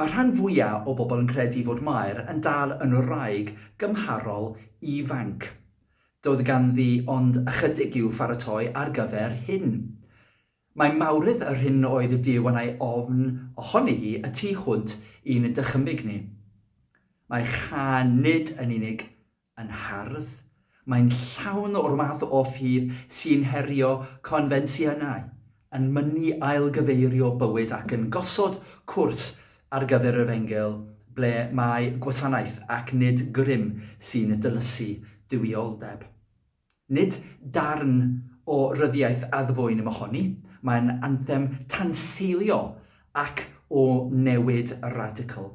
Mae'r rhan fwya' o bobl yn credu fod Mair yn dal yn wraig gymharol ifanc. Doedd ganddi ond ychydig i'w pharatoi ar gyfer hyn. Mae mawredd yr hyn oedd y Duw yn ei ofn ohoni hi y tu hwnt i'n dychymyg ni. Mae Chan nid yn unig yn hardd, mae'n llawn o'r math o ffydd sy'n herio confensiynau, yn mynnu ailgyfeirio bywyd ac yn gosod cwrs ar gyfer yr Efengyl ble mae gwasanaeth ac nid grym sy'n dylysu duwioldeb. Nid darn o ryddiaith addfwyn mohoni, mae'n anthem tanseilio ac o newid radical.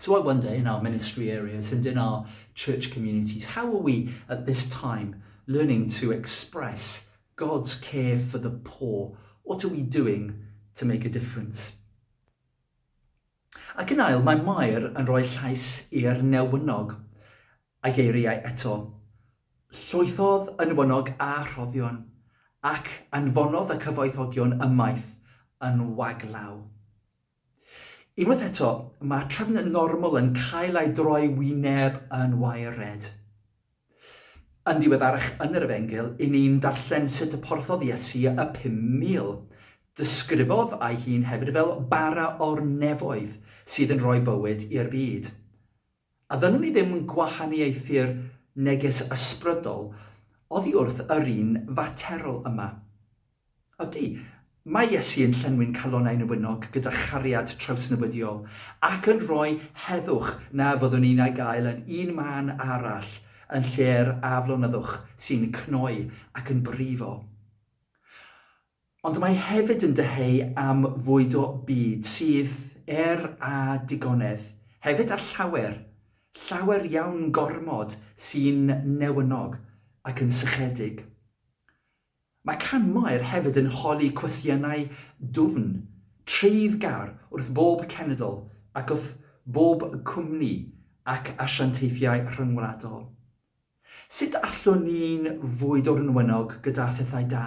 So I wonder in our ministry areas and in our church communities, how are we at this time learning to express God's care for the poor? What are we doing to make a difference? Ac yn ail, mae Mair yn rhoi llais i'r newynog. A'i geiriau eto. Llwythodd yn wynog a rhoddion, ac anfonodd y cyfoethogion ymaith yn waglaw. Unwaith eto, mae trefn normal yn cael ei droi wyneb yn waered. Yn ddiweddarach yn yr Efengyl, i ni'n darllen sut y porthodd Iesu y 5,000. Disgrifodd ei hun hefyd fel bara o'r nefoedd sydd yn rhoi bywyd i'r byd. A ddynwn ni ddim yn gwahaniaethu'r neges ysbrydol oddi wrth yr un faterol yma. Ydy, mae Iesu yn llenwi'n calonnau newynog gyda chariad trawsnewidiol, ac yn rhoi heddwch na fyddwn ni'n ei gael yn un man arall yn lle'r aflonyddwch sy'n cnoi ac yn brifo. Ond mae hefyd yn dyheu am fwyd o byd sydd, er a digonedd, hefyd â llawer, llawer iawn gormod sy'n newynog ac yn sychedig. Mae Can Mair hefyd yn holi cwestiynau dwfn, treiddgar wrth bob cenedl ac wrth bob cwmni ac asiantaethiau rhyngwladol. Sut allwn ni'n fwy dwrnwynog gyda phethau da?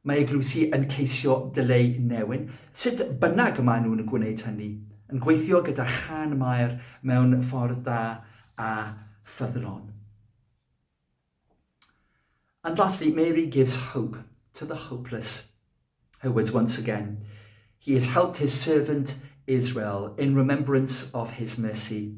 Mae eglwysi yn ceisio dileu newyn, sut bynnag maen nhw'n gwneud hynny, yn gweithio gyda chân Mair mewn ffordd da a ffyddlon. And lastly, Mary gives hope to the hopeless. Her words once again. He has helped his servant Israel in remembrance of his mercy.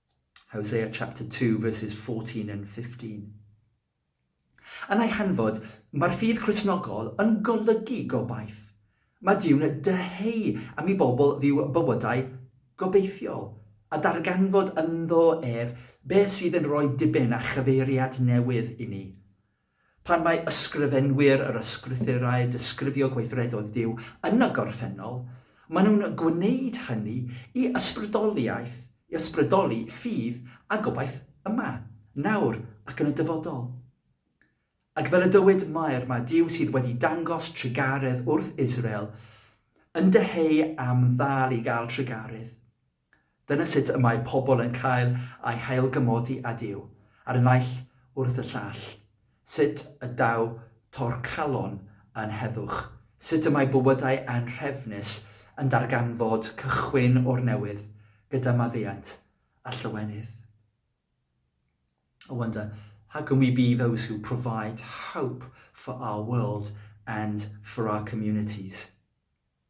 Hosea chapter 2 verses 14 and 15. Yn ei hanfod, mae'r ffydd Christnogol yn golygu gobaith. Mae Duw'n dyheu am i bobl fyw bywydau gobeithiol a darganfod ynddo ef beth sydd yn rhoi diben a chyfeiriad newydd i ni. Pan mae ysgrifenwyr yr Ysgrythurau disgrifio gweithredoedd Duw yn y gorffennol, maen nhw'n gwneud hynny i ysbrydoliaeth, i ysbrydoli ffydd a gobaith yma, nawr ac yn y dyfodol. Ac fel y dywed Mair, mae Duw sydd wedi dangos trugaredd wrth Israel yn dyheu am ddal i gael trugaredd. Dyna sut y mae pobl yn cael eu hailgymodi âd yw, ar y naill wrth y llall. Sut y daw torcalon yn heddwch. Sut y mae bywydau anhrefnus yn darganfod cychwyn o'r newydd gyda maddeuant a llawenydd. I wonder, how can we be those who provide hope for our world and for our communities?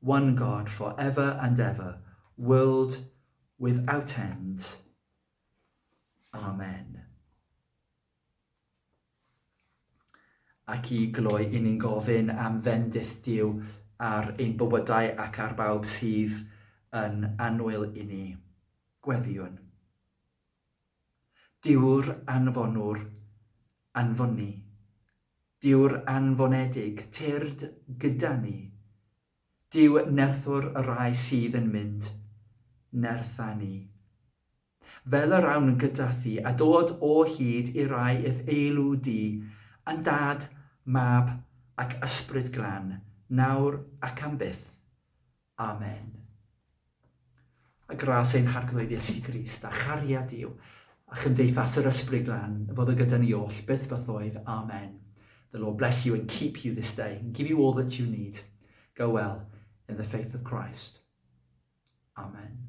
One God for ever and ever, world without end. Amen. Ac i gloi, i ni'n gofyn am fendith Dyw ar ein bywydau ac ar bawb sydd yn anwyl i ni. Gweddiwn. Dyw'r anfonwr, anfonni. Dyw'r anfonedig, tyrd gyda ni. Dyw nerthwr y rai sydd yn mynd, nertha ni. Fel yr awn gyda thi, a dod o hyd i rai i'th eilw di, yn Dad, Mab ac Ysbryd Glân, nawr ac am byth. Amen. A gras ein harglwydd Iesu Grist, a chariad Duw, a chymdeithas yr Ysbryd Glan, fod y gyda ni oll, byth bythoedd. Amen. The Lord bless you and keep you this day, and give you all that you need. Go well in the faith of Christ. Amen.